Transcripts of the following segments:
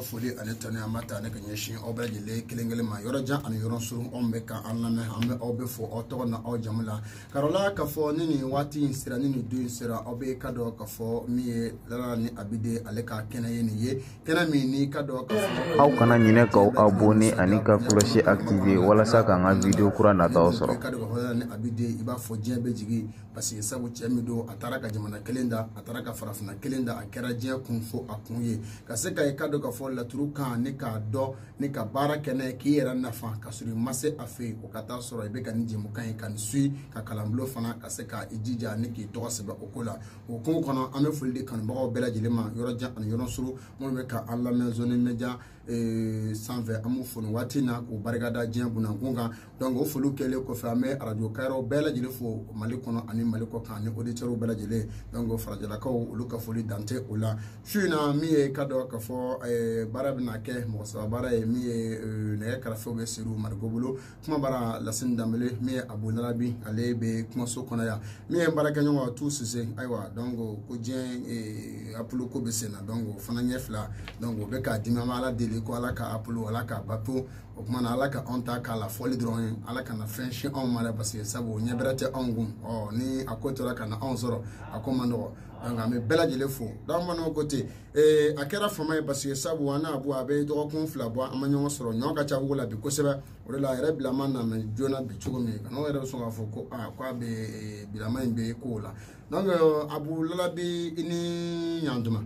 foli ani tanuni an b'a ta ne ka ɲɛsin aw bɛɛ lajɛlen kelen kelen ma yɔrɔ jan ani yɔrɔ surun aw bɛ ka an lamɛn an bɛ aw bɛɛ fo aw tɔgɔ n'aw jamu la karola k'a fɔ ni nin waati in sera ni nin don in sera aw bɛ ka dɔn k'a fɔ min ye lala ni abide ale ka kɛnɛ ye nin ye kɛnɛ min ni ka dɔn k'a fɔ aw kana ɲinɛ k'aw abonne ani ka cloche activer walasa k'an ka video kura nataw sɔrɔ ka dɔn k'a fɔ lala ni abide i b'a fɔ diɲɛ bɛɛ jigi parce que sabu cɛ min don a taara ka jamana kelen dan a taara ka farafinna kelen dan a kɛra diɲɛ kun fo a kun ye ka se ka i ka dɔn k'a fɔ laturu kan ni k'a dɔn ni ka baara kɛ n'a ye k'i yɛrɛ nafa ka sɔrɔ i ma se a fɛ yen o ka taa sɔrɔ i bɛ ka nin jɛmukan in ka nin suivi ka kalanbolo fana ka se ka i jija ni k'i tɔgɔ sɛbɛn o ko la o ko kɔnɔ an bɛ foli di kanubagaw bɛɛ lajɛlen ma yɔrɔ jan ani yɔrɔ surun minnu bɛ ka an lamɛn zoni media sanfɛ an b'u fo nin waati in na k'u barika da diɲɛ bunankun kan donc o foliw kɛlen kɔfɛ an bɛ arajo kayɔrɔ bɛɛ lajɛlen fo mali kɔnɔ ani mali kɔkan ani oditɛriw bɛɛ lajɛlen donc farajɛlakaw olu ka foli dan tɛ o la su in na min ye ka dɔn ka fɔ eh, baara bɛna kɛ mɔgɔ saba baara ye min ye eh, nɛgɛ karafew bɛ siriw mariko bolo kumabara lasini danbele min ye abu lalabi ale bɛ kumaso kɔnɔ yan min ye baarakɛɲɔgɔn tu sise ayiwa donc ko diɲɛ eh, apolo ko bɛ sen na donc o fana ɲɛ fila donc o bɛ ka dimi an bɛ ala deli ko ala ka apolo ala k'a bato o tuma na ala ka anw ta k'a lafɔli dɔrɔn ye ala kana fɛn se anw ma dɛ paseke sabu ɲɛ bɛrɛ tɛ anw kun ɔ ni a ko tora ka na anw sɔrɔ a ko man nɔgɔ donc an bɛ bɛɛ lajɛlen fo dɔw ma nɔgɔ ko ten ee a kɛra fama ye paseke sabu an n'a bɔ a bɛ dɔgɔkun fila bɔ an ma ɲɔgɔn sɔrɔ ɲɔ ka ca dugu la bi kosɛbɛ o de la a yɛrɛ bilama nana joona bi cogo min kan'aw yɛrɛ bɛ sɔn k'a fɔ ko aa ko a bɛ bilama in bɛ kow la donc abu lalabi i ni ɲantuma.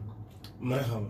marihaba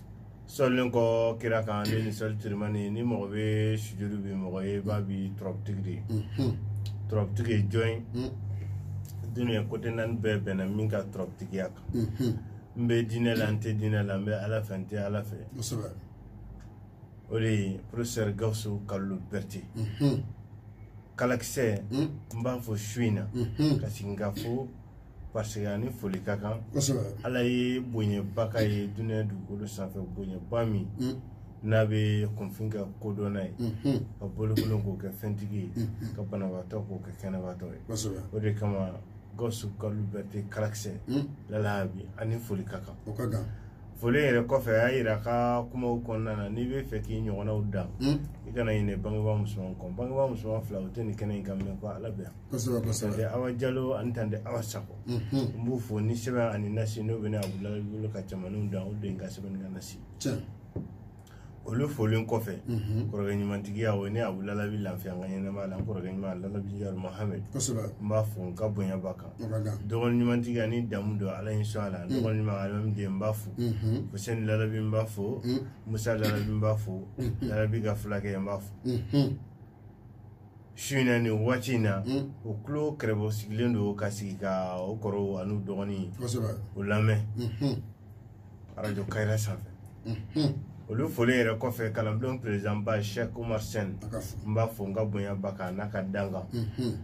selilen kɔ kira kan ne ni sɔli tirimani ni mɔgɔ bɛ sujuru bi mɔgɔ ye ba bi turabutigi de ye mhm. turabutigi ye jɔn ye mhm. dunuya côté naani bɛɛ bɛnna min ka turabutigiya kan mhm. n bɛ diinɛ la n tɛ diinɛ la n bɛ ala fɛ n tɛ ala fɛ o de ye professeur gawusu kalilu bɛrite kalakisɛ n b'a fɔ su in na ka sigi ka fo parce que a ni foli ka kan ala ye bonyaba k'a ye duniya dugukolo sanfɛ bonyaba min mm. n'a bɛ kunfin kɛ kodɔnna ye mm-hmm. ka bolokolon k'o kɛ fɛntigi ye mm-hmm. ka banabaatɔ k'o kɛ kɛnɛbaatɔ ye o de kama gawusu kalilu bɛrite kalakisɛ mm. lalabi a ni foli ka kan foli yɛrɛ kɔfɛ a y'a yira a ka kumaw kɔnɔna na n'i bɛ fɛ k'i ɲɔgɔnnaw dan mm. i kana ɲinɛ bangebaa musoman kɔ bangebaa musoman fila o tɛ nin kɛnɛ in ka minɛ ko ala bɛ yan kosɛbɛ kosɛbɛ tante awa jalo ani tante awa sako mhm. n b'u fo ni sɛbɛn ani nasi n'o bɛna abudulayi bolo ka cɛmaninw dan o den ka sɛbɛnni ka nasi olu folen kɔfɛ mhm. kɔrɔkɛ ɲumantigiya o ne abudulayi bi lafiya n ka ɲɛnamaya la n kɔrɔkɛ ɲuman lalabi yaro mahamɛd n b'a fo n ka bonya b'a kan dɔgɔnin ɲumantigiya ni damu don ala ye sɔn a la mhm. dɔgɔnin ɲuman alimami den n b'a fo fusɛni lalabi n b'a fo musa lalabi n b'a fo lalabi ka fulakɛ n b'a fo su in na nin waati in na Mm. o tulo kɛrɛbɔ sigilen don ka sigi ka o kɔrɔw an'u dɔgɔnin kosɛbɛ o lamɛn Mhm. arajo kayira sanfɛ Mhm. olu foli yɛrɛ kɔfɛ kalanbulon perezidanba sɛk umar sen a ka fo n b'a fo n ka bonya b'a kan n'a ka dankan Mhm.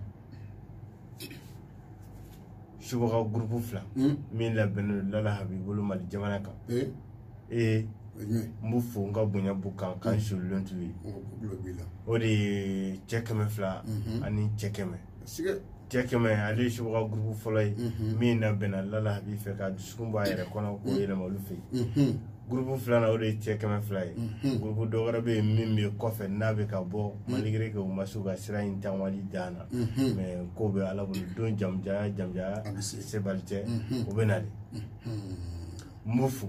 subaga gurupu fila hmm? min labɛnnen don lala habi bolo mali jamana kan eh? ee n b'u fo n ka bonya b'u kan k'an hmm. solilen t'u ye o de ye cɛ kɛmɛ fila mhm. ani cɛ kɛmɛ cɛ kɛmɛ ale ye subaga gurupu fɔlɔ ye mhm. min labɛnna lala habi fɛ ka dusukun b'a yɛrɛ kɔnɔ k'o yɛlɛma olu fɛ yen mhm. gurupu filanan o de ye cɛ kɛmɛ fila ye mhm. gurupu dɔ wɛrɛ bɛ yen min bɛ kɔfɛ n'a bɛ ka bɔ mhm. malgré que u ma se u ka sira in taamali dan na mhm. mais ko bɛ ala bolo don jamanjanya jamanjanya sebali tɛ o bɛ na dɛ n b'u fo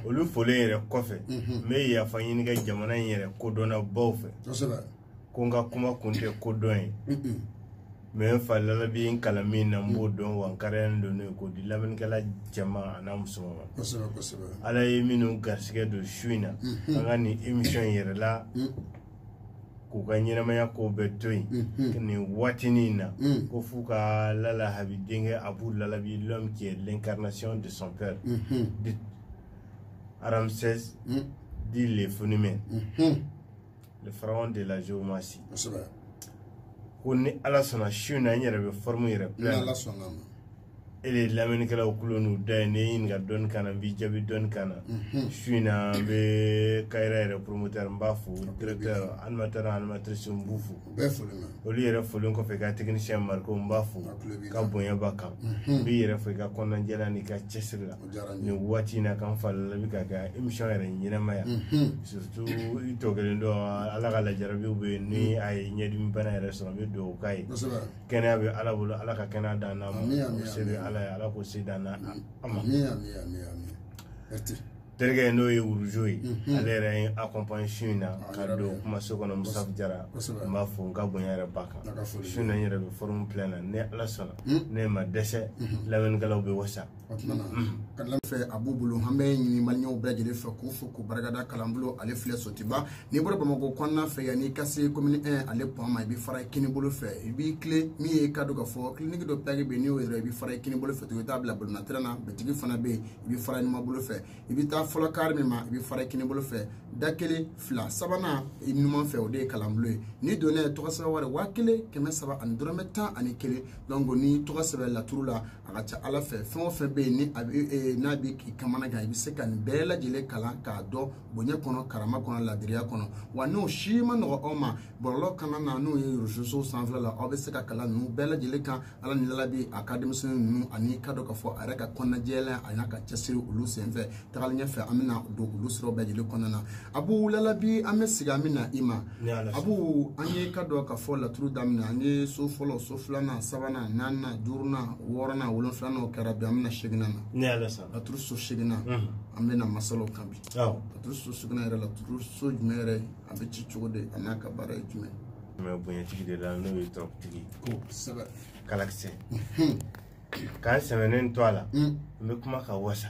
olu folen yɛrɛ kɔfɛ n bɛ yafa ɲini kɛ jamana in yɛrɛ kodɔnnabaw fɛ ko n ka kuma kun tɛ ko dɔn ye mais n fa lalabi n kalan min na n b'o dɔn wa n kariyalen don n'o ye k'o di lamɛnnikɛla cɛman an'a musoman ma kosɛbɛ kosɛbɛ ala ye minnu garisigɛ don su in na an ka nin émission in yɛrɛ la k'u ka ɲɛnamaya kow bɛɛ to yen nin waatinin in na ko f'u ka lala habi denkɛ abu lalabi l'homme qui est l'incarnation de son père dit ramsès dit le phénomène le pharaon de la géomancie kosɛbɛ ko ni ala sɔnna su na n yɛrɛ bɛ forme yɛrɛ ni plein ala sɔnna a ma e de ye lamɛnnikɛlaw tulo n'u da ye n'i ye n ɲininka dɔnni kan na n b'i jaabi dɔnni kan na Mhm. su in na n bɛ kayira yɛrɛ promoteur n b'a fo directeur animateur n'a animatrice n b'u fo u bɛɛ foli ma olu yɛrɛ folen kɔfɛ i ka technicien mariko n b'a fo A tulo b'i ka la. bonya b'a kan Mhm. n b'i yɛrɛ fo i ka kɔnɔnajɛya n'i ka cɛsiri la nin waati in na ka n fa lalabi ka kɛ émission yɛrɛ ɲɛnamaya surtout i tɔ kelen dɔ ala ka lajarabiw bɛ yen ni a ye ɲɛdimi bana yɛrɛ sɔrɔ a bɛ dugawu k'a ye kɛnɛya bɛ ala bolo ala ka kɛnɛya dan n'a ma o se bɛ ala ye ala k'o se dan n'a a ma terikɛ n'o ye wurujo ye ale yɛrɛ ye n accompagner su in na ka don kumaso kɔnɔ musafu jara n b'a fo n ka bonya yɛrɛ b'a kan su na n yɛrɛ bɛ forme plein na ni ala sɔnna ne ma dɛsɛ lamɛnnikɛlaw bɛ wasa o tuma na ka lamɛn fɛ a b'u bolo an bɛ ɲini maliyɛnw bɛɛ lajɛlen fɛ k'u fo k'u barikada kalanbulon ale filɛ sotuba n'i bɔra bamakɔ kɔnɔna fɛ yan n'i ka se komini 1 ale pɔn ma i bɛ fara kini bolo fɛ i b'i tilen min ye k'a dɔn k'a fɔ kiliniki dɔ pɛrɛn bɛ yen n'i y'o yɛrɛ i bɛ fara kini bolo fɛ tugun i t'a bila balɔn tɛrɛn na bitigi fana bɛ yen i bɛ fara numan bolo fɛ i bɛ taa fɔlɔ kare min ma i bɛ fara kini bolo fɛ da kelen fila sabanan i numan fɛ o de ye kalanbulon ye n'i donna yen tɔgɔ sɛbɛn wari waa kelen kɛmɛ saba ani dɔrɔmɛ tan ani kelen donc ni tɔgɔ sɛbɛn laturu la a ka ca ala fɛ fɛn o fɛn bɛ yen ni a bɛ e, n'a bɛ k'i kamanagan i bɛ se ka nin bɛɛ lajɛlen kalan k'a dɔn bonya kɔnɔ karama kɔnɔ ladiriya kɔnɔ wa n'o si man nɔgɔ aw ma bɔlɔlɔ kanna na n'o ye reseaux sociaux sanfɛla la aw bɛ se ka kalan ninnu bɛɛ lajɛlen kan ala ni lalabi a ka denmisɛnnin ninnu ani k'a dɔn k'a fɔ a yɛrɛ ka kɔnɔnajɛya a n'a ka cɛsiri olu senfɛ tagali ɲɛfɛ an bɛna don olu siraw bɛɛ lajɛlen kɔnɔna na abu lalabi an bɛ segin an bɛ na i ma abu an ye k'a dɔn k'a fɔ laturu daminɛ an ye so fɔlɔ so filanan sabanan naaninan duurunan wɔɔrɔnan wolonfilanan kɛra bi an bɛna seginnan na laturu so seginnan an bɛna masala o kan bi laturu so seginnan yɛrɛ laturu so jumɛn yɛrɛ a bɛ ci cogo di a n'a ka baara ye jumɛn ye bonyatigi de la n'o ye tɔrɔkutigi kosɛbɛ kalakisɛ k'an sɛmɛnen to a la n bɛ kuma ka wasa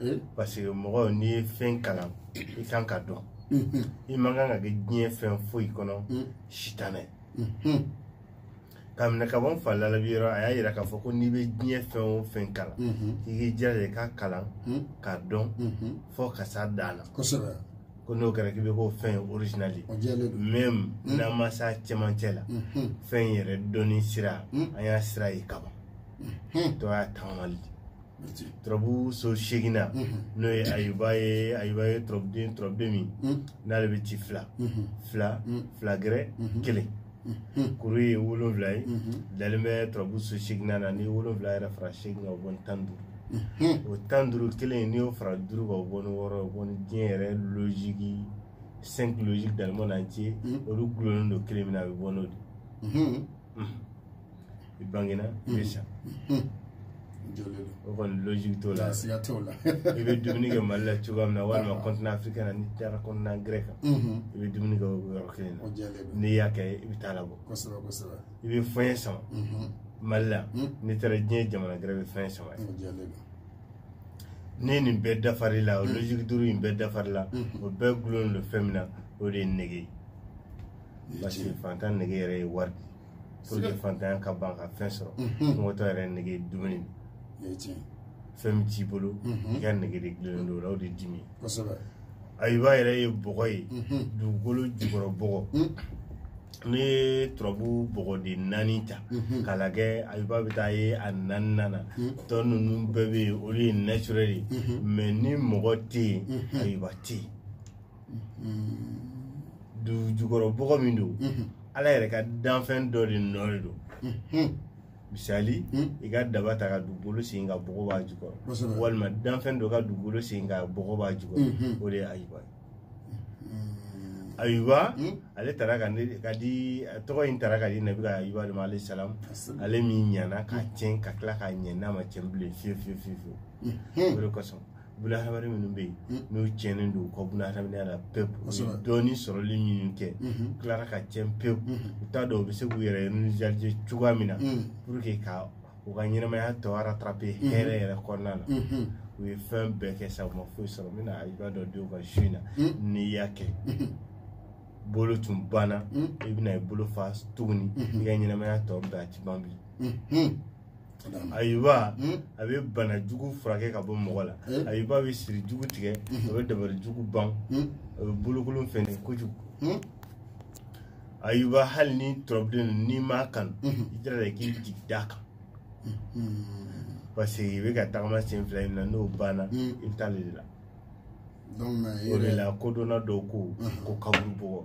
eh? parce que mɔgɔ n'i ye fɛn kalan i kan k'a dɔn mm-hmm. i man kan ka kɛ diɲɛ fɛn foyi kɔnɔ mm. sitanɛ mm-hmm. k'a minɛ ka bɔ n fa lalabi yɔrɔ a y'a yira k'a fɔ ko n'i bɛ diɲɛ fɛn o fɛn kalan mm-hmm. i k'i jija i k'a kalan mm. k'a dɔn fɔ ka s'a dan na kosɛbɛ ko n'o kɛra k'i bɛ k'o fɛn original ye même mm. n'an ma s'a cɛmancɛ la fɛn yɛrɛ dɔnni sira an y'a sira ye kaban dɔ y'a tagamali turabu so seginnan n'o ye ayuba ye ayuba ye turabuden turabuden min n'ale bɛ ci fila fila fila gɛrɛ kelen kuru ye wolonwula ye dalen bɛ turabu so seginnan na ni wolonwula yɛrɛ fara segin kan o bɔ ni tan duuru o tan duuru kelen n'i y'o fara duuru kan o bɔ ni wɔɔrɔ o bɔ ni diɲɛ yɛrɛ loziki cinq logique de l'humanité olu dulonnen don kelen min na a bɛ bɔ n'o de i bangena i bɛ sa o kɔni logique t'o la siga t'o la i bɛ dumuni kɛ mali la cogoya min na walima continent africain na n'i taara continent gɛrɛ kan i bɛ dumuni kɛ o yɔrɔ kelen na n'i y'a kɛ i bɛ t'a labɔ kosɛbɛ kosɛbɛ i bɛ fɛn sama mali la n'i taara diɲɛ jamana gɛrɛ bɛ fɛn sama ne nin bɛɛ dafari la o logique duuru in bɛɛ dafari la o bɛɛ dulonlen don fɛn min na o de ye nege ye parce que fantan nege yɛrɛ ye wari de ye pour que fantanya ka ban ka fɛn sɔrɔ kɔngɔtɔ yɛrɛ nege dumuni fɛn min t'i bolo i ka nege de dilannen don o la o de dimi ayuba yɛrɛ ye bɔgɔ ye dugukolo jukɔrɔ bɔgɔ n'i ye turabu bɔgɔden naani ta mhm. k'a lajɛ ayuba bɛ taa ye a naaninan na mhm. tɔ ninnu bɛɛ bɛ yen olu ye naturel ye mhm. mais ni mɔgɔ tɛ yen ayuba tɛ yen du jukɔrɔ bɔgɔ min don ala yɛrɛ ka danfɛn dɔ de nɔ de don misali i ka daba ta ka dugukolo sen ka bɔgɔ b'a jukɔrɔ Kosɛbɛ. walima danfɛn dɔ ka dugukolo sen ka bɔgɔ b'a jukɔrɔ Mhm. o de ye ayuba ye ayuba Mhm. ale taara ka ne ka di a tɔgɔ in tara ka di nabila ayuba de ma alayhi salam Asalaam. ale min ɲana ka tiɲɛ ka tila ka ɲɛ n'a ma tiɲɛ bilen fiyewu fiyewu fiyewu fiyewu o de kosɔn bunahadamaden minnu bɛ yen hmm. n'u tiɲɛnen don u ka bunahadamadenya la pewu u ye dɔɔni sɔrɔli minnu kɛ hmm. u tilara ka tiɲɛ pewu hmm. u t'a dɔn u bɛ se k'u yɛrɛ nisɔndiya cogoya min na pour que ka u ka ɲɛnamaya tɔ rattraper hɛrɛ yɛrɛ kɔnɔna na u ye fɛn bɛɛ kɛ sa u ma foyi sɔrɔ n bɛna i b'a dɔn denw ka su in na n'i y'a kɛ bolo tun banna i bɛna i bolo fa tuguni i ka ɲɛnamaya tɔ bɛɛ a ti ban bi ayuba hmm? a bɛ bana jugu furakɛ ka bɔ mɔgɔ la hmm? ayuba bɛ siri jugu tigɛ hmm? a bɛ dabali jugu ban a bɛ bolokolon fɛnɛ kojugu ayuba hali ni turabuden don n'i m'a kanu i jira la k'i jigi d'a kan parce que i bɛ ka tagama sen fila in na n'o banna i bɛ taa ale de la o de la kodɔnna dɔw ko ko kaburu bɔgɔ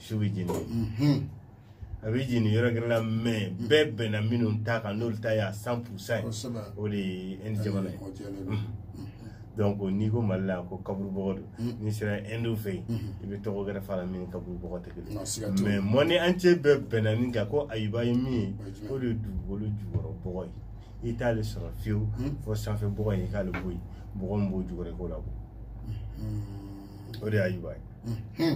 su bɛ jeni mhm. a bɛ jeni yɔrɔ gɛrɛ la mais bɛɛ bɛnna minnu ta kan n'olu ta y'a cent pour cent ye o de ye ɛndi jamana ye donc n'i ko mali la ko kaburubɔgɔ don mm. n'i sera ɛndiw fɛ yen mm-hmm. i bɛ tɔgɔ gɛrɛ f'a la min kaburubɔgɔ tɛ kelen mais monde entier bɛɛ bɛnna nin kan ko ayuba ye min ye o de ye dugukolo jukɔrɔ bɔgɔ ye i t'ale sɔrɔ fiyewu mm. fɔ sanfɛ bɔgɔ in i k'ale bɔ yen bɔgɔ min b'o jukɔrɔ i k'o labɔ mm-hmm. o de ye ayuba ye mm-hmm.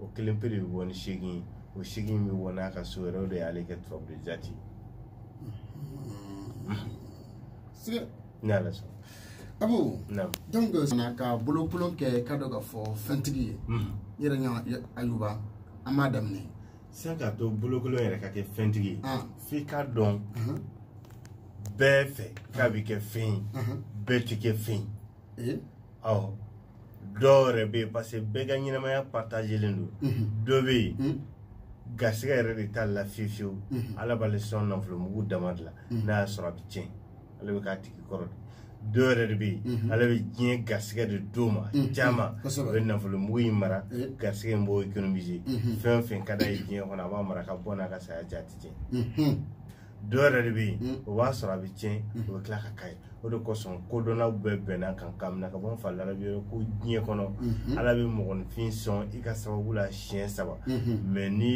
o kelen pe de bɛ bɔ ni seegin ye o seegin bɛ bɔ n'a ka so yɛrɛ o de y'ale kɛ turabuden jaati siga ne ala sɔn abu naamu donc fana ka bolokolon kɛ ka dɔ ka fɔ fɛntigi ye Mhm. n yɛrɛ ɲa ayuba an b'a daminɛ sisan k'a to bolokolon yɛrɛ ka kɛ fɛntigi ye Ah. f'i k'a dɔn Mhm. bɛɛ fɛ k'a bɛ kɛ fɛn ye Mhm. bɛɛ tɛ kɛ fɛn ye eh? awɔ dɔ wɛrɛ bɛ yen parce que bɛɛ ka ɲɛnamaya partagelen don mhm. dɔ bɛ yen mhm. garisɛgɛ yɛrɛ de t'ale la fewu fewu mhm. ala b'ale sɔn nafolo mugu dama de la n'a y'a sɔrɔ a bɛ tiɲɛ ale bɛ k'a tigi kɔrɔ de dɔ wɛrɛ de bɛ yen ala bɛ diɲɛ garisɛgɛ de d'o ma caman o bɛ nafolo mugu in mara eh. garisɛgɛ in b'o économiser fɛn o fɛn ka d'a ye diɲɛ kɔnɔ a b'a mara ka bɔ n'a ka saya cɛ a tɛ tiɲɛ. dɔ wɛrɛ de bɛ yen mm. o b'a sɔrɔ a bɛ tiɲɛ mm. o bɛ tila ka k'a ye o de kosɔn kodɔnnaw bɛɛ bɛnn'a kan k'a minɛ ka bɔ n fa larabi yɔrɔ ko diɲɛ kɔnɔ mm-hmm. ala bɛ mɔgɔninfin sɔn i ka sababu la siɲɛ saba mɛ mm-hmm. n'i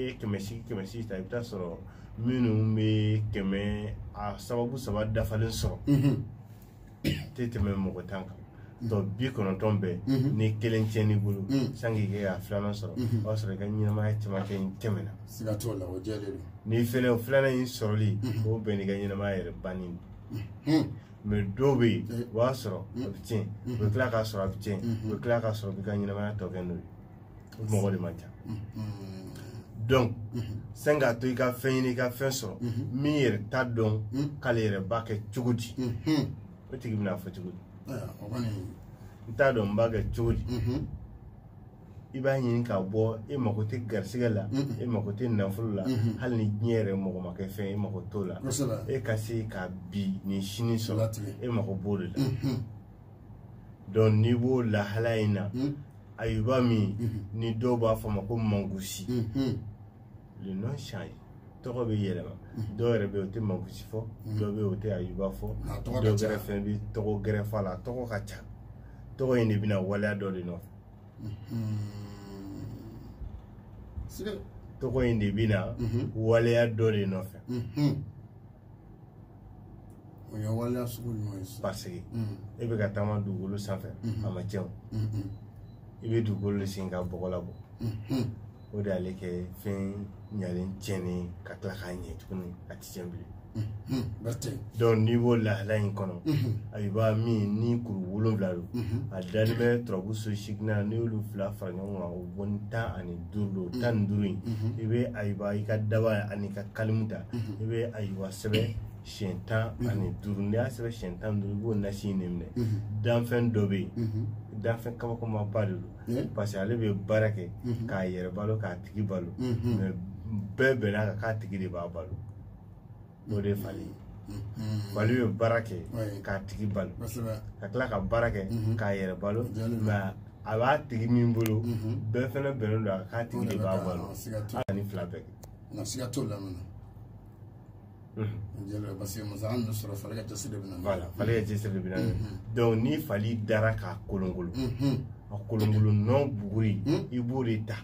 ye kɛmɛ sigi kɛmɛ sigi ta i bɛ taa sɔrɔ minnu bɛ kɛmɛ a sababu saba dafalen sɔrɔ mm-hmm. tɛ tɛmɛ mɔgɔ tan kan tɔ bi kɔnɔntɔn bɛɛ ni kelen tiɲɛn'i bolo sani i k'a filanan sɔrɔ o y'a sɔrɔ i ka ɲɛnamaya cɛmancɛ in tɛmɛna siga t'o la o jɛlen don ni fɛnɛ o filanan in sɔrɔli o bɛnn'i ka ɲɛnamaya yɛrɛ banni ma dɔw bɛ yen o b'a sɔrɔ a bɛ tiɲɛ o bɛ tila k'a sɔrɔ a bɛ tiɲɛ o bɛ tila k'a sɔrɔ i ka ɲɛnamaya tɔ kɛ n'o ye mɔgɔ de man ca donc sani k'a to i ka fɛn ɲini i ka fɛn sɔrɔ min yɛrɛ t'a dɔn k'ale yɛrɛ b'a kɛ cogo di o tigi bɛn'a fɔ cogo di n t'a dɔn n b'a kɛ cogo di i b'a ɲini ka bɔ e mako tɛ garisigɛ la e mako tɛ nafolo la hali ni diɲɛ yɛrɛ mɔgɔ ma k'e fɛ e mako t'o la e ka se ka bi ni sini sɔrɔ e mako b'o de la donc n'i b'o lahala in na hmm. ayuba min hmm. ni dɔw b'a fɔ a ma ko mangusi hmm, le nom change tɔgɔ bɛ yɛlɛma dɔw yɛrɛ bɛ yen o tɛ mangusi fɔ dɔw bɛ yen o tɛ ayuba fɔ dɔw gɛrɛ fɛnɛ bɛ tɔgɔ gɛrɛ fɔ a la tɔgɔ ka ca tɔgɔ in de bɛna waleya dɔ de nɔfɛ tɔgɔ in de bɛna waleya dɔ de nɔfɛ o ye waleya sugu ɲuman ye paseke mm. e bɛ ka taama dugukolo sanfɛ mm-hmm. a ma tiɲɛ mm-hmm. i bɛ dugukolo de sen ka bɔgɔ labɔ mm-hmm. o de y'ale kɛ fɛn ɲalen tiɲɛnen ka tila ka ɲɛ tuguni a tɛ tiɲɛ bilen donc n'i b'o lahala in kɔnɔ ayuba min ni kuru wolonwula don a dalen bɛ turabu so seegin na n'i y'olu fila fara ɲɔgɔn kan o bɔnni tan ani duuru don tan ni duuru in i bɛ ayuba i ka daba ani ka kalimu ta i bɛ ayuba sɛbɛn siyɛn tan ani duuru n'i y'a sɛbɛn siyɛn tan ni duuru i b'o nasi in de minɛ danfɛn dɔ bɛ yen danfɛn kabakomaba de don parce que ale bɛ baara kɛ k'a yɛrɛ balo k'a tigi balo mɛ bɛɛ bɛnn'a kan k'a tigi de b'a balo o de ye fali ye fali bɛ baara kɛ k'a tigi balo ka tila ka baara kɛ k'a yɛrɛ balo nka a b'a tigi min bolo bɛɛ fɛnɛ bɛnnen don a k'a tigi de b'a balo ka nin fila bɛɛ kɛ nka siga t'o la minɛ parce que masa an sɔrɔ fali ka cɛsiri de bɛna voilà fali ka cɛsiri de bɛna donc ni fali dara k'a kolonkolon a kolonkolon nɔ buguri i b'o de ta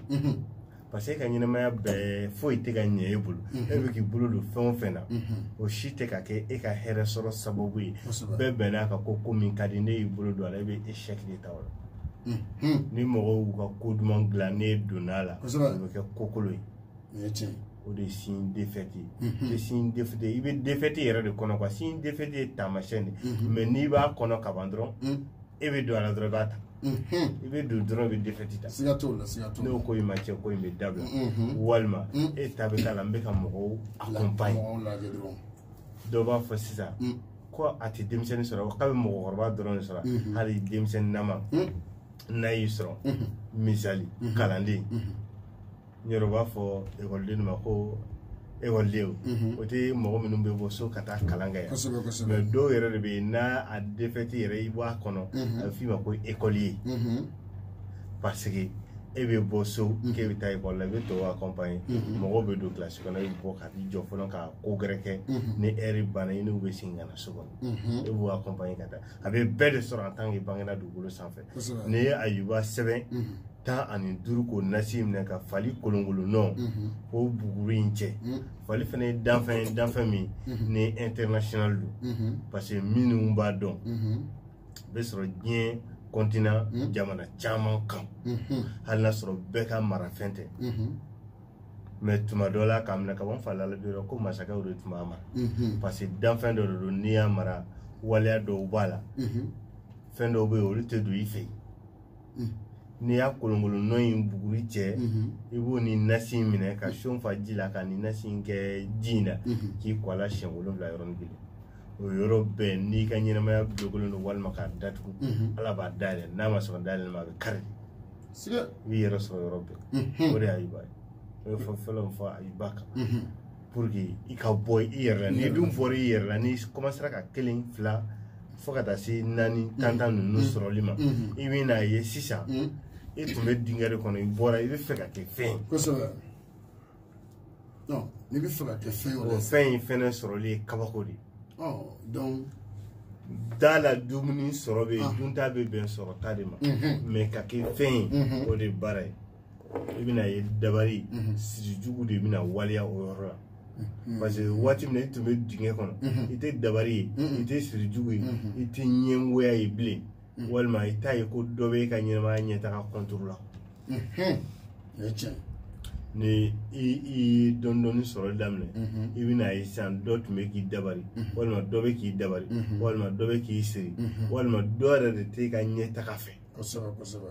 parce que e ka ɲɛnamaya bɛɛ foyi tɛ ka ɲɛ e bolo mhm. e bɛ k'i bolo don fɛn o fɛn na mhm. o si tɛ ka kɛ e ka hɛrɛ sɔrɔ sababu ye bɛɛ bɛn'a ka ko ko min ka di n'e y'i bolo don a la e bɛ échec de ta o la mhm. ni mɔgɔw y'u ka ko duman dilan n'e donna a la o bɛ kɛ ko kolon ye o de ye signe défaite ye i bɛ signe défaite i bɛ défaite yɛrɛ de kɔnɔ quoi signe défaite ye taamasiyɛn de mais n'i b'a kɔnɔ kaban dɔrɔn e bɛ don a la dɔrɔn i b'a ta i bɛ don dɔrɔn i bɛ défaite ta siga t'o la siga t'o la n'o ko in ma cɛn ko in bɛ dabila walima e ta bɛ k'a la n bɛ ka mɔgɔw accompagner dɔw b'a fɔ sisan ko a tɛ denmisɛnnin sɔrɔ k'a bɛ mɔgɔkɔrɔba dɔrɔn de sɔrɔ hali denmisɛnnin nama n'a y'i sɔrɔ misali kalanden n yɛrɛ b'a fɔ ekɔliden ma ko ekɔlidenw mhm. o tɛ mɔgɔ minnu bɛ bɔ so ka taa kalan kɛ yan mais dɔw yɛrɛ de bɛ yen n'a a défaite yɛrɛ i bɔ a kɔnɔ mhm. a bɛ f'i ma ko écolier mhm. parce que e bɛ bɔ so k'e bɛ taa ekɔli la i bɛ tɔw accompagner mɔgɔw bɛ don kilasi kɔnɔ i bɛ bɔ ka t'i jɔ fɔlɔ ka ko gɛrɛ kɛ ni ɛri banna i n'u bɛ segin ka na so kɔnɔ e b'u accompagner ka taa a bɛ bɛɛ de sɔrɔ en tant qu'i bangena dugukolo sanfɛ n'i ye ayuba sɛbɛn tan ani duuru k'o nasi minɛ ka fali kolonkolon nɔ k'o buguri in cɛ fali fana ye danfɛn ye danfɛn min ni international don parce que minnu b'a dɔn bɛ sɔrɔ diɲɛ continent jamana caman kan hali n'a sɔrɔ bɛɛ ka marafɛn tɛ mais tuma dɔ la k'a minɛ ka bɔ falala bi ko masakɛw de tun b'a mara parce que danfɛn dɔ de don n'i y'a mara waleya dɔw b'a la fɛn dɔw bɛ yen olu tɛ don i fɛ yen n'i y'a kolonkolon nɔ in buguri cɛ i b'o ni nasi in minɛ ka seau fa ji la ka nin nasi in kɛ ji in na k'i ko a la siɲɛ wolonwula yɔrɔnin kelen o yɔrɔ bɛɛ n'i ka ɲɛnamaya bulokelen don walima k'a datugu ala b'a dayɛlɛ n'a ma sɔn dayɛlɛ ma a bɛ kari i b'i yɛrɛ sɔrɔ yɔrɔ bɛɛ o de y'a yiba ye o ye fɔ fɔlɔ min fɔ a yiba kan pour que i ka bɔ i yɛrɛ la n'i dun bɔra i yɛrɛ la n'i commencera ka kelen fila fo ka taa se naani tan tan ninnu sɔrɔli ma i bɛn'a ye sisan e tun bɛ dingɛ de kɔnɔ i bɔra i bɛ fɛ ka kɛ fɛn ye kosɛbɛ n'i bɛ fɛ ka kɛ fɛn wɛrɛ fɛn in fɛnɛ sɔrɔli ye kabako de ye donc da la dumuni sɔrɔ bɛ yen dunta bɛ bɛn sɔrɔta de ma mais ka kɛ fɛn ye o de baara ye i bɛna ye dabari mhm. siri jugu de bɛna waleya o yɔrɔ la mhm. parce que waati min na i tun bɛ dingɛ kɔnɔ mhm. i tɛ dabari ye i tɛ siri jugu ye i tɛ ɲɛngoya ye bilen walima i t'a ye ko dɔ bɛ e ka ɲɛnamaya ɲɛtaga contre la ni i ye dɔɔni dɔɔni sɔrɔli daminɛ i bɛna ye sisan dɔ tun bɛ k'i dabari walima dɔ bɛ k'i dabari walima dɔ bɛ k'i siri walima dɔ yɛrɛ de t'e ka ɲɛtaga fɛ kosɛbɛ kosɛbɛ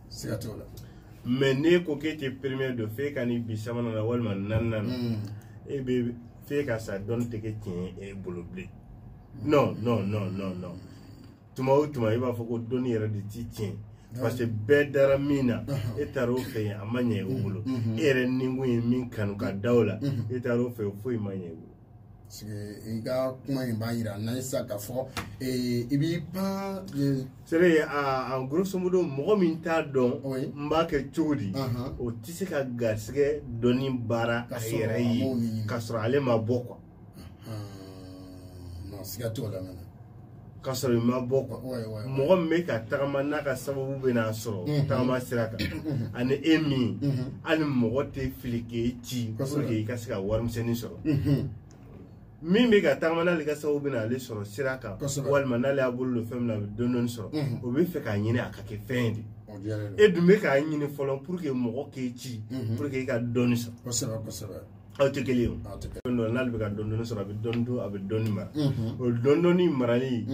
siga t'o la mais n'e ko k'e tɛ premier dɔn f'e ka n'i bin sabanan na walima naaninan na hmm. e bɛ f'e ka sa dɔnni tɛ kɛ tiɲɛ ye e bolo bilen non non non non non tuma o tuma i b'a fɔ ko dɔnni yɛrɛ de ti tiɲɛ parce que bɛɛ dara min na e taara o fɛ yen a ma ɲɛ o bolo e yɛrɛ nikun ye min kanu ka da o la e taara o fɛ foyi ma ɲɛ o bolo i ka kuma in b'a jira n'an ye sisan k'a fɔ eh, i b'i pan. Eh, sɛbɛn a a grosso modo mɔgɔ min t'a dɔn n b'a kɛ cogo di o tɛ se ka garisigɛ dɔnni baara a yɛrɛ ye k'a sɔrɔ ale ma bɔ quoi. siga t'o la mɛnɛ. ka sɔrɔ i ma bɔ quoi mɔgɔ min bɛ ka tagama n'a ka sababu bɛ n'a sɔrɔ mhm. tagama sira kan mhm. ani e min mhm. hali mɔgɔ tɛ fili k'e ci pour que i ka se ka warimisɛnnin sɔrɔ min bɛ ka tagama n'ale ka sababu bɛ n'ale sɔrɔ sira kan walima n'ale y'a bolo don fɛn min na a bɛ dɔɔni dɔɔni sɔrɔ o bɛ fɛ k'a ɲini a ka kɛ fɛn de e dun bɛ k'a ɲini fɔlɔ pour que mɔgɔ k'e ci pour que i ka dɔɔni sɔrɔ. aw tɛ kelen ye o don n'ale bɛ ka dɔɔni dɔɔni sɔrɔ a bɛ dɔɔni dun a bɛ dɔɔni mara o dɔɔni dɔɔni marali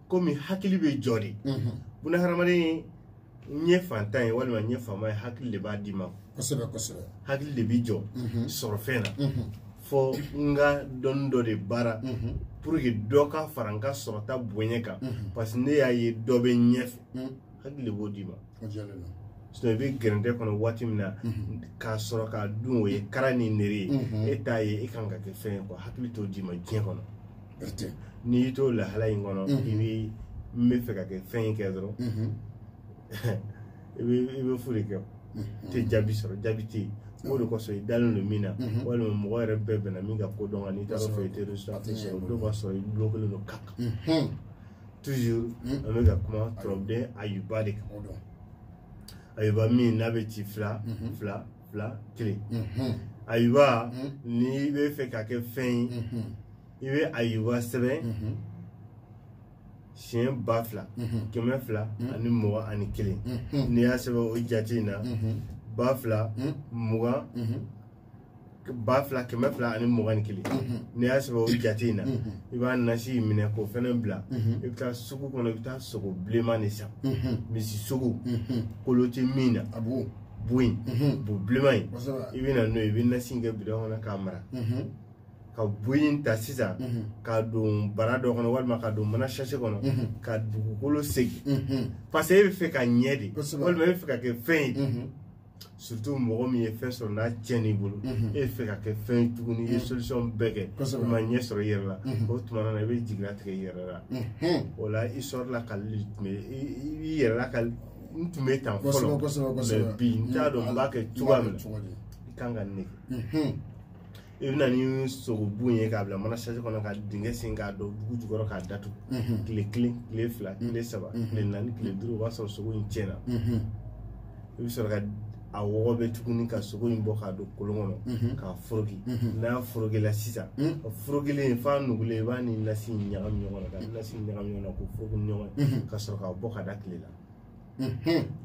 komi hakili b'i jɔ de buna hadamaden n ye fantan ye walima n ye faama ye hakili de b'a d'i ma kosɛbɛ kosɛbɛ hakili de b'i jɔ sɔrɔ fɛn na fo n ka dɔnni dɔ de baara pour que dɔ ka fara n ka sɔrɔta bonya kan parce que ne y'a ye dɔ bɛ ɲɛfɛ hakili b'o d'i ma sinon i bɛ gɛrɛntɛ kɔnɔ waati min na mhm. k'a sɔrɔ k'a dun o ye kara ni nere ye mhm. e t'a ye e kan ka kɛ fɛn ye quoi hakili t'o d'i ma diɲɛ kɔnɔ n'i y'i t'o lahala in kɔnɔ mhm. i bɛ n bɛ fɛ ka kɛ fɛn in kɛ dɔrɔn i bɛ i bɛ fu de kɛ tɛ jaabi sɔrɔ jaabi tɛ yen o de kosɔn i dalen don min na walima mɔgɔ yɛrɛ bɛɛ bɛnna min ka ko dɔn kan n'i taara fɛ i tɛ sɔrɔ o don b'a sɔrɔ i dulon kelen don kaka toujours hmm? an bɛ ka kuma turabuden ayuba de kan ayuba min n'a bɛ ci fila mhm. fila fila kelen mhm. ayuba mhm. n'i bɛ fɛ ka kɛ fɛn ye i bɛ ayuba sɛbɛn siɲɛ ba fila kɛmɛ fila ani mugan ani kelen n'i y'a sɛbɛn o jate in na ba fila mugan ba fila kɛmɛ fila ani mugan ni kelen n'i y'a sɛbɛn o jate in na i b'a nasi in minɛ k'o fɛnɛ bila i bɛ taa sugu kɔnɔ i bɛ taa sogo bilenman de san misi sogo kolo tɛ min na a b'o bu in bu bilenman in i bɛ na n'o ye i bɛ nasi in kɛ bidɔn kɔnɔ k'a mara ka bu in ta sisan k'a don bara dɔ kɔnɔ walima k'a don mana sase kɔnɔ ka dugukolo segin parce que e b'a fɛ ka ɲɛ de walima e b'a fɛ ka kɛ fɛn ye surtout mɔgɔ min ye fɛn sɔrɔ n'a tiɲɛna i bolo e fɛ ka kɛ fɛn ye tuguni i ye solution bɛɛ kɛ i ma ɲɛ sɔrɔ i yɛrɛ la o tuma na i bɛ jigiya tigɛ i yɛrɛ la wala i sɔrɔla ka i yɛrɛ lakali n tun bɛ tan fɔlɔ mais bi n t'a dɔn n b'a kɛ cogoya min na i kan ka nin de kɛ i bɛ na ni sogobu ye k'a bila mana sase kɔnɔ ka dingɛ sen k'a don dugu jukɔrɔ k'a datugu mhm. tile kelen tile fila mhm. tile saba mhm. tile naani tile duuru o b'a sɔrɔ sogo in tiɲɛna i bɛ sɔrɔ ka a wɔgɔbɛ tuguni ka sogo in bɔ k'a don kolon kɔnɔ k'a foroki n'a forokila sisan a forokilen f'a nugulen i b'a ni nasi ɲagami ɲɔgɔn na ka nasi ɲagami ɲɔgɔn na k'o foroki ɲɔgɔn ye ka sɔrɔ k'a bɔ k'a da tile la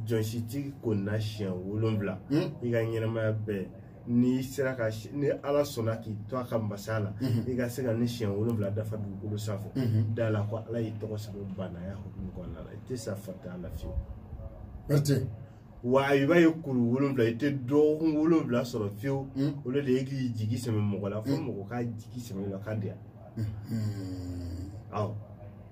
jɔsi ti ko na siɲɛ wolonwula i ka ɲɛnamaya bɛɛ n'i sera ka ni ala sɔnna k'i to a ka masaya la mhm. i ka se ka nin siɲɛ wolonwula dafa dugukolo sanfɛ mhm. da a la ko ala y'i tɔgɔ sɛbɛn baanaya hukumu kɔnɔna la i tɛ sa faantanya la fiyewu bɛrɛte wa i b'a ye kuru wolonwula i tɛ dɔgɔkun wolonwula sɔrɔ fiyewu mhm. o de ye k'i jigi sɛmɛ mɔgɔ la fo mɔgɔ k'a jigi sɛmɛ la k'a diya awɔ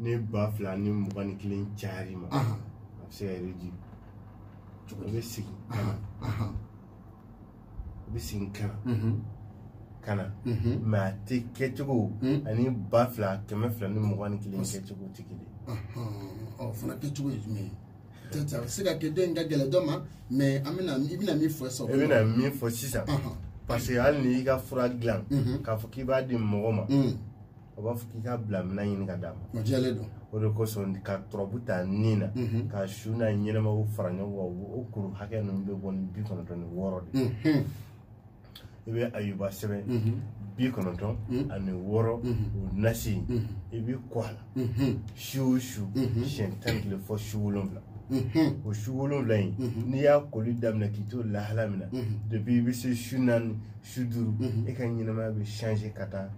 ni ba fila ni mugan ni kelen cayar'i ma a bɛ se ka yɛrɛ di o bɛ segin ka na o bɛ segin ka na ka na mais a tɛ kɛcogo ani ba fila kɛmɛ fila ni mugan ni kelen kɛcogo tɛ kelen ye o fana kɛcogo ye jumɛn ye peut-être a bɛ se ka kɛ dɔ in ka gɛlɛn dɔ ma mais an bɛna i bɛna min fɔ sisan i bɛna min fɔ sisan parce que hali n'i ka fura dilan k'a fɔ k'i b'a di mɔgɔ ma a b'a fɔ k'i ka bila minɛn ɲini ka d'a ma o jɛlen don o de kosɔn ka tɔrɔbu ta ni na mhm. ka su n'a ɲɛnamaw fara ɲɔgɔn kan o kuru hakɛ ninnu bɛ bɔ ni bi kɔnɔntɔn ni wɔɔrɔ de mhm. i bɛ ayuba sɛbɛn mhm. bi kɔnɔntɔn ani wɔɔrɔ o nasi i b'i ko a la su o su siɲɛ tan ni kelen fo su wolonwula o su wolonwula in n'i y'a koli daminɛ k'i to lahala min na depuis i bɛ se su naani su duuru e ka ɲɛnamaya bɛ ka taa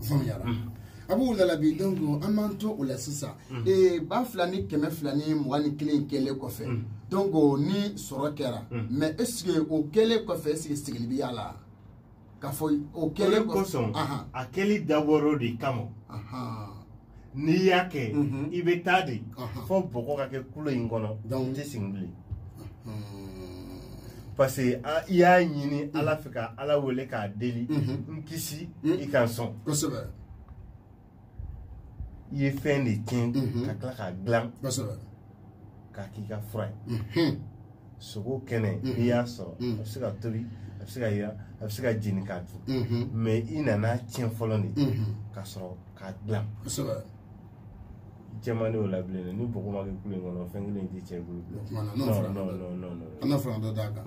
faamuyara a b'u lalabi donc an b'an to o la sisan ba fila ni kɛmɛ fila ni mugan ni kelen kɛlen kɔfɛ donc ni sɔrɔ kɛra mais est ce que o kɛlen kɔfɛ est ce que sigili bɛ y'a la k'a fɔ o kɛlen kɔfɛ a kɛli dabɔra o de kama n'i y'a kɛ i bɛ taa de fɔ bɔgɔ ka kɛ kulo in kɔnɔ n tɛ sigi bilen parce que i y'a ɲini ala fɛ ka ala wele k'a deli n kisi i ka n sɔn kosɛbɛ i ye fɛn de tiɲɛ ka tila k'a dilan kosɛbɛ k'a k'i ka fura ye sogo kɛnɛ n'i y'a sɔrɔ a bɛ se ka tobi a bɛ se ka yiran a bɛ se ka jeni k'a dun mais i nana tiɲɛ fɔlɔ de ka sɔrɔ k'a dilan jɛman de y'o labilen dɛ ni bɔgɔ ma kɛ kulo in kɔnɔ fɛn kelen in tɛ tiɲɛ i bolo bilen an na fara dɔ d'a kan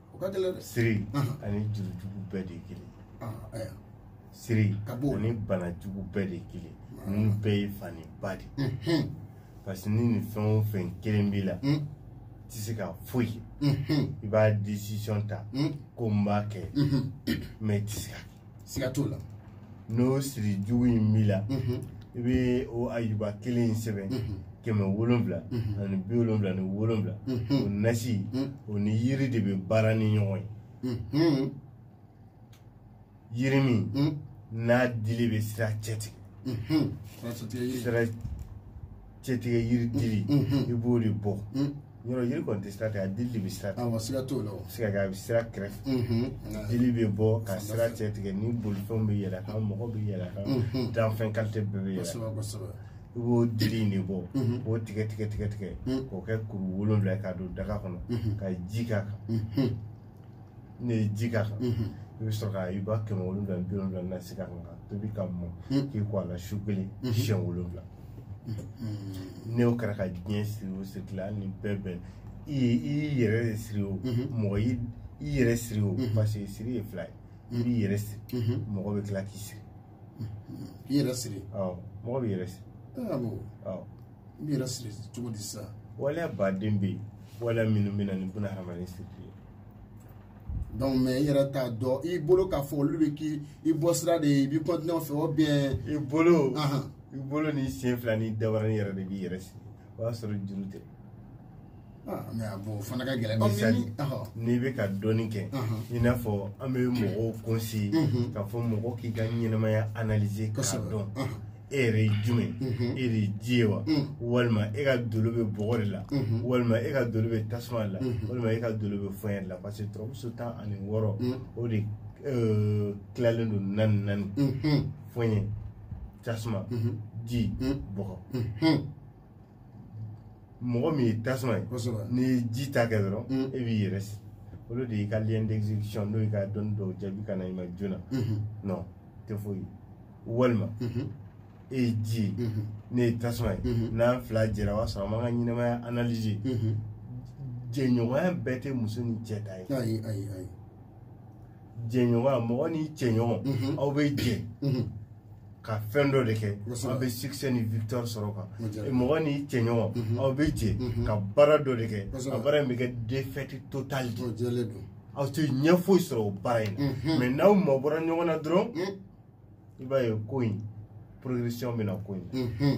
o ka gɛlɛn dɛ siri Ahan. ani juru jugu bɛɛ de ye kelen ye. Ah, ayiwa. siri Siga t'o la. ani bana jugu bɛɛ de ye kelen ye. ninnu bɛɛ ye fani ba de ye. Mhm, parce que ni nin fɛn o fɛn kelen b'i la Mm. tɛ se ka foyi kɛ. mhm, i b'a décision ta mm, ko n b'a kɛ mhm. mais i tɛ se k'a kɛ. siga t'o la n'o siri jugu in b'i la mhm. i bɛ o ayuba kelen in sɛbɛn mhm. kɛmɛ wolonwula mhm. ani bi wolonwula ni wolonwula o nasi o ni yiri de bɛ baara ni ɲɔgɔn ye yiri min n'a dili bɛ sira cɛtigɛ sira cɛtigɛ yiri dili i b'o de bɔ yɔrɔ yiri kɔni tɛ sira tigɛ a dili de bɛ sira tigɛ awɔ siga t'o la o se ka kɛ a bɛ sira kɛrɛfɛ dili bɛ bɔ ka sira cɛtigɛ ni bolifɛnw bɛ yɛlɛ a kan mɔgɔ bɛ yɛlɛ a kan danfɛn kalite bɛɛ bɛ yɛlɛ kosɛbɛ kosɛbɛ i b'o dili in de bɔ k'o tigɛ tigɛ tigɛ tigɛ k'o kɛ kuru wolonwula ye k'a don daga kɔnɔ ka ji k'a kan n'i ye ji k'a kan i bɛ sɔrɔ ka ayuba kɛmɛ wolonwula ni bi wolonwula nasi k'a kan k'a tobi k'a mɔ k'i ko a la su kelen siɲɛ wolonwula ne y'o kɛra ka diɲɛ siri o siri la ni bɛɛ bɛn i ye i y'i yɛrɛ de siri o mɔgɔ y'i i yɛrɛ siri o parce que siri ye fila ye i b'i yɛrɛ siri mɔgɔ bɛ tila k'i siri k'i yɛrɛ siri mɔgɔ b'i yɛrɛ siri i yɛrɛ siri cogo di sisan waleya ba de bɛ yen waleya minnu bɛ na ni buna hadamaden sirili ye donc mais i yɛrɛ t'a dɔn i bolo k'a fɔ olu bɛ k'i i bɔ sira de ye i b'i continuer o fɛ o bien i bolo i bolo ni sen fila ni dabarani yɛrɛ de b'i yɛrɛ siri o y'a sɔrɔ juru tɛ Ah. mais a b'o fana ka gɛlɛn misali n'i bɛ ka dɔɔni kɛ i n'a fɔ an bɛ mɔgɔw conseiller k'a fɔ mɔgɔ k'i ka ɲɛnɛmaya analyser k'a dɔn e yɛrɛ ye jumɛn e de ye ji ye wa walima e ka dolo bɛ bɔgɔ de la walima e ka dolo bɛ tasuma de la walima e ka dolo bɛ fiɲɛ de la parce que turabu so tan ani wɔɔrɔ o de tilalen don naani naani fiɲɛ tasuma ji bɔgɔ mɔgɔ min ye tasuma ye n'i ye ji ta kɛ dɔrɔn mm. e b'i yɛrɛ si olu de y'i ka lien d'exécution n'o y'i ka dɔnni dɔw jaabi ka na i ma joona mm-hmm. non tɛ foyi walima mm-hmm. e ye ji ye mm-hmm. ne ye tasuma ye n'an fila jɛra o b'a sɔrɔ an b'an ka ɲɛnamaya analyser jɛɲɔgɔnya bɛɛ tɛ muso ni cɛ ta ye jɛɲɔgɔnya mɔgɔ n'i cɛɲɔgɔn mhm. aw bɛ jɛ mhm. ka fɛn dɔ de kɛ aw bɛ succès ni victoire sɔrɔ a kan mɔgɔ n'i cɛɲɔgɔn mhm. aw bɛ jɛ ka baara dɔ de kɛ a baara in bɛ kɛ défaite totale de aw tɛ ɲɛ foyi sɔrɔ o baara in na mais n'aw mabɔra ɲɔgɔn na dɔrɔn i b'a ye ko in progression bɛ na ko in na.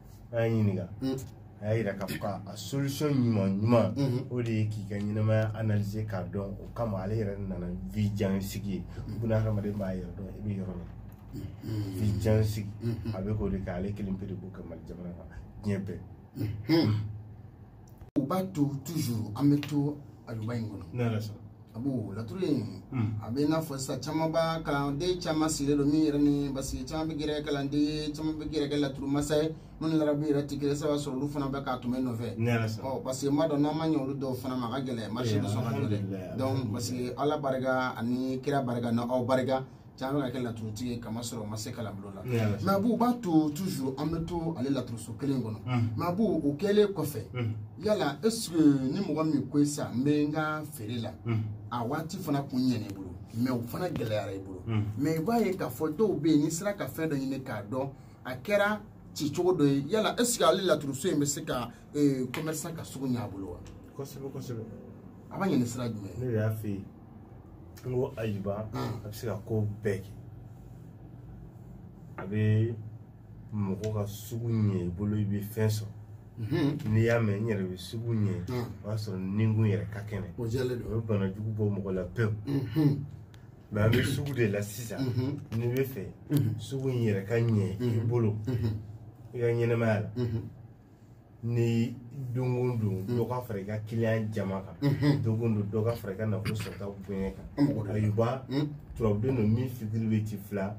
a y'a ɲininka mm. a y'a yira k'a fɔ ka a solution ɲuman ɲuman mm-hmm. o de ye k'i ka ɲɛnamaya analyser k'a dɔn o kama ale yɛrɛ nana vi jan sigi ye mm-hmm. buna hadamaden b'a yɛrɛ dɔn i bɛ yɔrɔ la mm-hmm. vi jan sigi a bɛ k'o de kɛ ale kelen pe de b'o kɛ mali jamana kan diɲɛ bɛɛ u b'a to toujours an bɛ to ayuba in kɔnɔ abu laturu in hmm. a bɛ i n'a fɔ sisan caman b'a kalanden caman sigilen don min yɛrɛ ni basigi caman bɛ gɛrɛ kalanden ye caman bɛ gɛrɛ kɛ laturu masa ye minnu larabu yɛrɛ tɛ kelen saba sɔrɔ olu fana bɛ k'a tun bɛ nɔfɛ ɔ parce que n b'a dɔn n'an ma ɲɛ olu dɔw fana ma a ka gɛlɛn marisi bɛ sɔn ka jɔ dɛ donc parce que ala barika ani kira barika ni aw barika cɛ bɛ ka kɛ laturutigi ye kamasɔrɔ o ma se kalanbolo la mais abu b'a to toujours an bɛ to ale laturuso kelen kɔnɔ mais abu o kɛlen kɔfɛ yala est ce que ni mɔgɔ min ko sisan n bɛ n ka feere la a waati fana kun ɲɛna i bolo mais o fana gɛlɛyara i bolo mais i b'a ye k'a fɔ dɔw bɛ yen n'i sera ka fɛn dɔ ɲini k'a dɔn a kɛra ci cogo dɔ ye yala est ce que ale laturuso in bɛ se ka commerçant ka sugu ɲɛ a bolo wa kosɛbɛ kosɛbɛ a b'a ɲini sira jumɛn ne de y'a fɛ yen n ko ayuba a bɛ se ka ko bɛɛ kɛ a bɛ mɔgɔ ka sugu ɲɛ i bolo i bɛ fɛn sɔrɔ n'i y'a mɛn n yɛrɛ bɛ sugu ɲɛ o b'a sɔrɔ ninkun yɛrɛ ka kɛnɛ o bɛ bana jugu bɔ mɔgɔ la pewu mais an bɛ sugu de la sisan n'i b'a fɛ sugu in yɛrɛ ka ɲɛ i bolo i ka ɲɛnamaya la ni don o don dɔ ka fara i ka kiliyan jama kan don o don dɔ ka fara i ka nafolo sɔrɔta bonya kan ayuba turabuden don min figure bɛ ci fila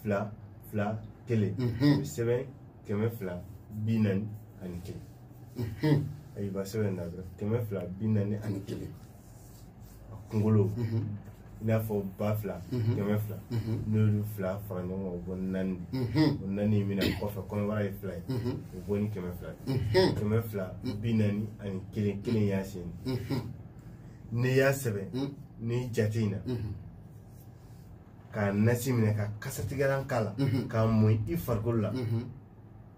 fila fila kelen o bɛ sɛbɛn kɛmɛ fila bi naani ani kelen ayuba sɛbɛn na dɔrɔn kɛmɛ fila bi naani ani kelen kunkolo i n'a fɔ ba fila kɛmɛ fila n'olu fila fara ɲɔgɔn kan o bɔ naani o naani in bɛna kɔfɛ kɔnɔbara ye fila ye o bɔ ni kɛmɛ fila kɛmɛ fila bi naani ani kelen kelen y'a sen n'i y'a sɛbɛn ni jate in na k'a nasi minɛ ka kasatigɛlan k'a la k'a mɔn i farikolo la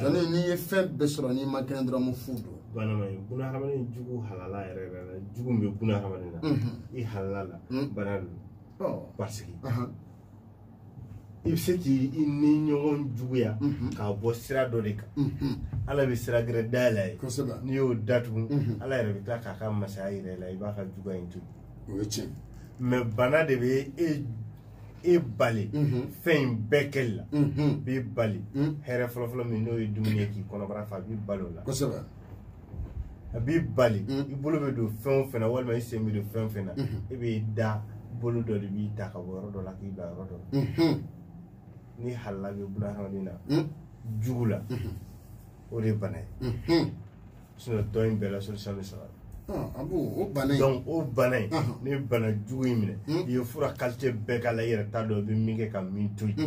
jɔni n'i ye fɛn bɛɛ sɔrɔ n'i man kɛnɛ dɔrɔn fu don banama ye buna hadamaden jugu halala yɛrɛ yɛrɛ la jugu min bɛ buna hadamaden na i halala la bana don parce que i bɛ se k'i ni ɲɔgɔn juguya k'a bɔ sira dɔ de kan ala bɛ sira gɛrɛ dayɛlɛ i ye n'i y'o datugu ala yɛrɛ bɛ tila k'a ka masaya yɛrɛ la i b'a ka juguya in to yen o ye tiɲɛ mɛ bana de bɛ e e bali mhm. fɛn in bɛɛ kɛli la mhm. b'i bali mhm. hɛrɛ fɔlɔfɔlɔ min n'o ye dumuni ye k'i kɔnɔbara fa a b'i bali o la kosɛbɛ a b'i bali i bolo bɛ don fɛn o fɛn na walima i sen bɛ don fɛn o fɛn na i b'i da bolo dɔ de b'i ta ka bɔ yɔrɔ dɔ la k'i bila yɔrɔ dɔ la ni halala bɛ buna hadamaden na jugu la o de ye bana ye sinon tɔ in bɛɛ la solution bɛ sɔrɔ abu o bana in donc o bana in ni bana jugu y'i minɛ i ye fura qualité bɛɛ k'a la i yɛrɛ t'a dɔn i bɛ min kɛ ka min to yen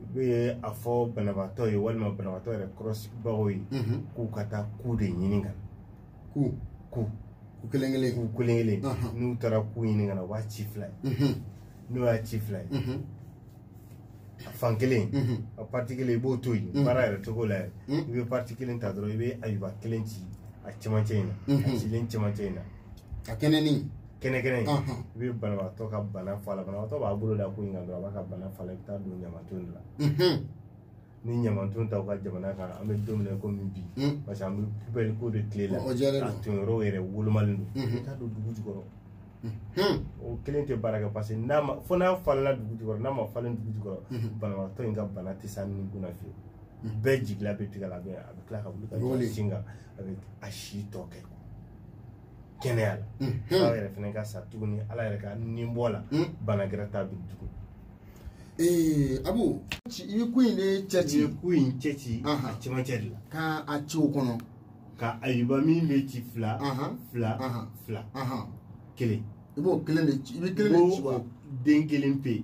i bɛ a fɔ banabaatɔ ye walima banabaatɔ yɛrɛ kɔrɔsigibagaw ye k'u ka taa ku de ɲini ka na ku ku ku kelen kelen ku kelen kelen n'u taara ku ɲini ka na u b'a ci fila ye n'u y'a ci fila ye fan kelen mhm. a parti kelen i b'o to yen mhm. baara yɛrɛ cogo la yɛrɛ mhm. i bɛ parti kelen ta dɔrɔn i bɛ ayuba kelen ci a cɛmancɛ in na a cilen cɛmancɛ in na ka kɛɲɛ ni kɛnɛkɛnɛ in i bɛ banabagatɔ ka bana fɔ a la banabagatɔ b'a bolo da ku in kan dɔrɔn a b'a ka bana fɔ a la i bɛ taa a don ɲamanton de la ni ɲamanton t'aw ka jamana kan an bɛ don min na i komi bi parce que an bɛ poubelle ko de tile la a tonyɔrɔw yɛrɛ wolomalen don i t'a don dugu jukɔrɔ o kelen tɛ baara kɛ parce que n'a ma fo n'a falenna dugu jukɔrɔ n'a ma falen dugu jukɔrɔ banabagatɔ in ka bana tɛ s'a ni kunna fiyewu bɛɛ jigila bɛ tigɛ a la bɛɛ a bɛ tila ka wuli ka jɔ a sen kan a bɛ a si tɔ kɛ kɛnɛya la ala yɛrɛ fana ka sa tuguni ala yɛrɛ ka ni bɔ a la bana gɛrɛ t'a bin tugun ee abu i bɛ ku in de cɛ ci i bɛ ku in cɛ ci a cɛmancɛ de la ka a ci o kɔnɔ ka ayuba min bɛ ci fila fila fila kelen i b'o kelen de ci i bɛ kelen de ci wa den kelen pe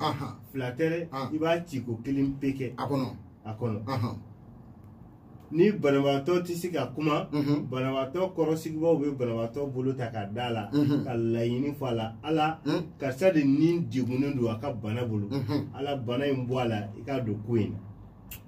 fila tɛ dɛ i b'a ci ku kelen pe kɛ a kɔnɔ a kɔnɔ ni banabagatɔ tɛ se ka kuma mhm. banabagatɔ kɔrɔsigibaaw bɛ banabagatɔ bolo ta ka da a la mhm. ka laɲini fɔ a la ala mhm. karisa de ni degunnen don a ka bana bolo ala bana in bɔ a la i k'a don ku in na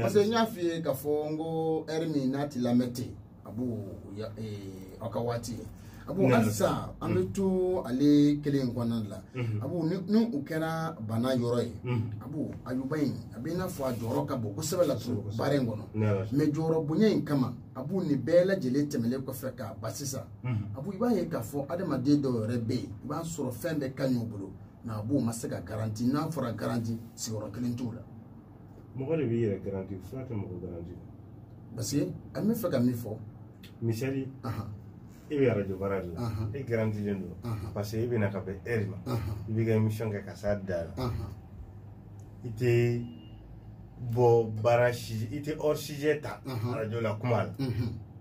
parce que n y'a f'i ye k'a fɔ n ko ɛri min n'a t'i lamɛn ten abu aw ka waati ye abu hali sisan an bɛ to ale kelen in kɔnɔna la abu ni o kɛra bana yɔrɔ ye abu ayuba in a bɛ i n'a fɔ a jɔyɔrɔ ka bon kosɛbɛ la baara in kɔnɔ mɛ jɔyɔrɔ bonya in kama abu nin bɛɛ lajɛlen tɛmɛnen kɔfɛ k'a ba sisan abu i b'a ye k'a fɔ adamaden dɔw yɛrɛ bɛ yen i b'a sɔrɔ fɛn bɛɛ ka ɲi u bolo nka abu u ma se ka garanti n'a fɔra garanti sigiyɔrɔ kelen t'u la. mɔgɔ de b'i yɛrɛ garanti fura tɛ mɔgɔ garanti parce que an bɛ fɛ ka min fɔ misali e bɛ arajo baara de la e garantilen don parce que e bɛ na ka bɛn heure ma i b'i ka émission kɛ ka s'a dan na i tɛ bɔ baara si i tɛ hors sujet ta arajo la kuma la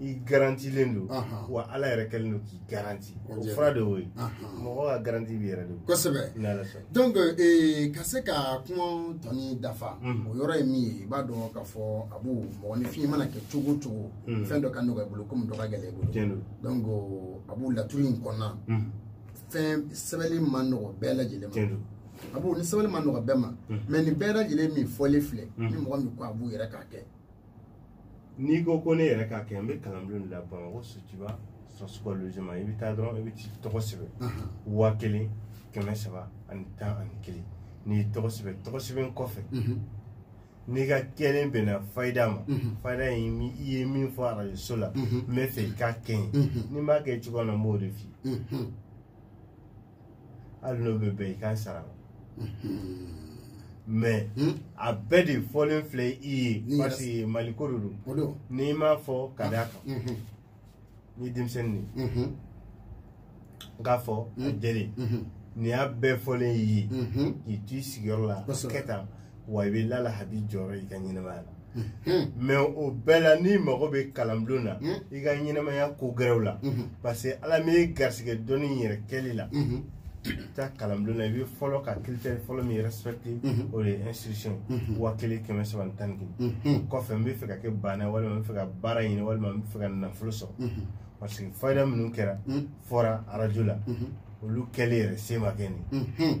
i garantilen don wa ala yɛrɛ kɛlen don k'i garanti o fura de y'o ye mɔgɔ ka garanti b'i yɛrɛ de bolo kosɛbɛ donc ka se ka kuma tɔnin dafa o yɔrɔ ye min ye i b'a dɔn k'a fɔ abu mɔgɔninfin i mana kɛ cogo o cogo fɛn dɔ ka nɔgɔ i bolo komi dɔ ka gɛlɛn i bolo donc abu laturu in kɔnɔna fɛn sɛbɛnni man nɔgɔ bɛɛ lajɛlen ma abu ni sɛbɛnni man nɔgɔ bɛɛ ma mais nin bɛɛ lajɛlen min fɔlen filɛ ni mɔgɔ min ko abu yɛrɛ k'a kɛ n'i ko ko ne yɛrɛ k'a kɛ n bɛ kalanbulon de la bamakɔ sotuba cent cinquante logements i bɛ taa dɔrɔn i bɛ t'i tɔgɔ sɛbɛn waa kelen kɛmɛ saba ani tan ani kelen n'i y'i tɔgɔ sɛbɛn tɔgɔ sɛbɛn kɔfɛ n'i ka kɛlen bɛnna fayida ma fayida in i ye min fɔ arajoso la n bɛ fɛ i k'a kɛ n ye ni n b'a kɛ cogoya min na n b'o de f'i ye hali n'o bɛ bɛn i k'a sara mais a bɛɛ de fɔlen filɛ i ye parce que mali ko de don n'i m'a fɔ ka d'a kan ni denmisɛnnin de k'a fɔ a jɛlen nin y'a bɛɛ fɔlen i ye k'i t'i sigiyɔrɔ la kɛ tan wa i bɛ lala hadi jɔyɔrɔ i ka ɲɛnamaya la mais o bɛɛ la n'i mago bɛ kalanbulon na i ka ɲɛnamaya ko gɛrɛw la parce que ala min ye garisɛgɛ dɔnni yɛrɛ kɛli la i bɛ taa kalanbulon na i bɛ fɔlɔ ka critère fɔlɔ min respecte o de ye inscription wa kelen kɛmɛ saba ni tan ni kelen kɔfɛ n bɛ fɛ ka kɛ baana walima n bɛ fɛ ka baara ɲini walima n bɛ fɛ ka nafolo sɔrɔ parce que fayida minnu kɛra fɔra arajo la olu kɛli yɛrɛ se ma kɛ nin